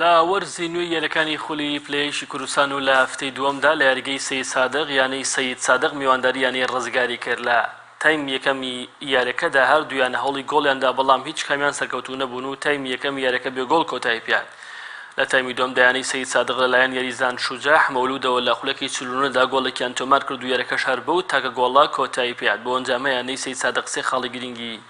لە وەرزی نوێی یەلەکانی خولی پلە یەکی کوردستان و لە هەفتەی دووەمدا لە یاریگەی سەید سادق یانەی سەید سادق میوانداری یانەی رزگاری کرد لە تایم یەکەمی یاریەکەدا هەردوویان هەوڵی گۆڵیان دا بەڵام هیچ کامیان سەرکەوتوو نەبوون و تایمی یەکەمی یاریەکە بێ گۆڵ کۆتایی پێهات لە تایمی دووەمدا یانەی سەید سادق لەلایەن یاریزان شوجاح مەولودەوە لە خولەکی چل و نۆ دا گۆڵێکیان تۆمار کرد و یاریەکەش هەر بەو تاکە گۆڵە کۆتایی پێهات بەو ئەنجامە یانەی سەید سادق سێ خاڵی گرنگی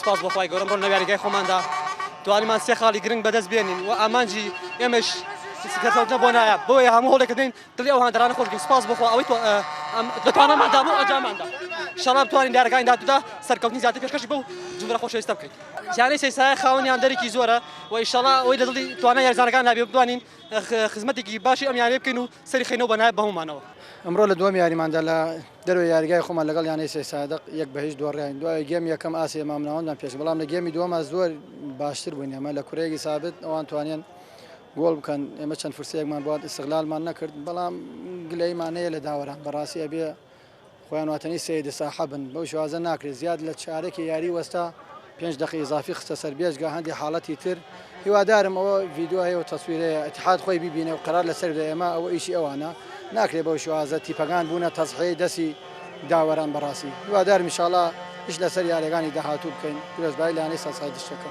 سپاس بۆ خوای گەورە ئەمڕۆ لەناو یاریگای خۆماندا توانیمان سێ خاڵی گرنگ بەدەست بێنین و ئامانجی ئێمەش سکەتەوتنە بۆ نایە بۆیە هەموو هەوڵێک دەدەین دڵی ئەو هاندەرانە خۆش بکەین سپاس بۆ خوا ئەوەی دەتواناماندا بۆ ئەنجاماندا انشاءاللە بتوانین لە یاریگای داهاتوودا سەرکەوتنی زیاتر پێشکەشی بەو جومگەرە خۆشەویستە بکەین یانەی سەیسایە خاوەنی هاندەرێکی زۆرە و انشاءاللە ئەوەی لە دڵی توانای یاریزانەکاندا بێ بتوانین خزمەتێکی باشی ئەم یانەی بکەین و سەری خەینەو بەنایە بە هەموومانەوە. ئەمڕۆ لە دووەم یاریماندا لە دەروێ یاریگای خۆمان لەگەڵ یانەی سەیسادق یەک بە هیچ دۆڕاین دوای گێم یەکەم ئاستی ئێمام ناوەندمان پێشکرد بەڵام لە گێمی دووەما زۆر باشتر بووین ئێمە لە کورەیەکی سابت ئەوان توانیان گۆڵ بکەن ئێمە چەند فرسەیەکمان بۆ ئیستغلالمان نەکرد بەڵام گلەیمان هەیە لە داوەران بەڕاستی ئەبێ خۆیان واتەنی سەید ساحە بن بەو شێوازە ناکرێت زیاد لە چارەکی یاری وەستا پێنج دەقی ئیزافی خستە سەر بێجگە هەندی حاڵەتی تر هیوادارم ئەوە ڤیدیۆ هەیە و تەسویرەیە اتحاد خۆی ببینێ و قەرار لەسەر بدە ئێمە ئەوە ئیشی ئەوانە ناکرێت بەو شێوازە تیپەکان بوونە تەزحیەی دەسی داوەران بەڕاستی هیوادارم ان شاء اللە ئیش لەسەر یاریەکانی داهاتوو بکەین پیرۆزبایی لانەی سەرسایدشتەکە.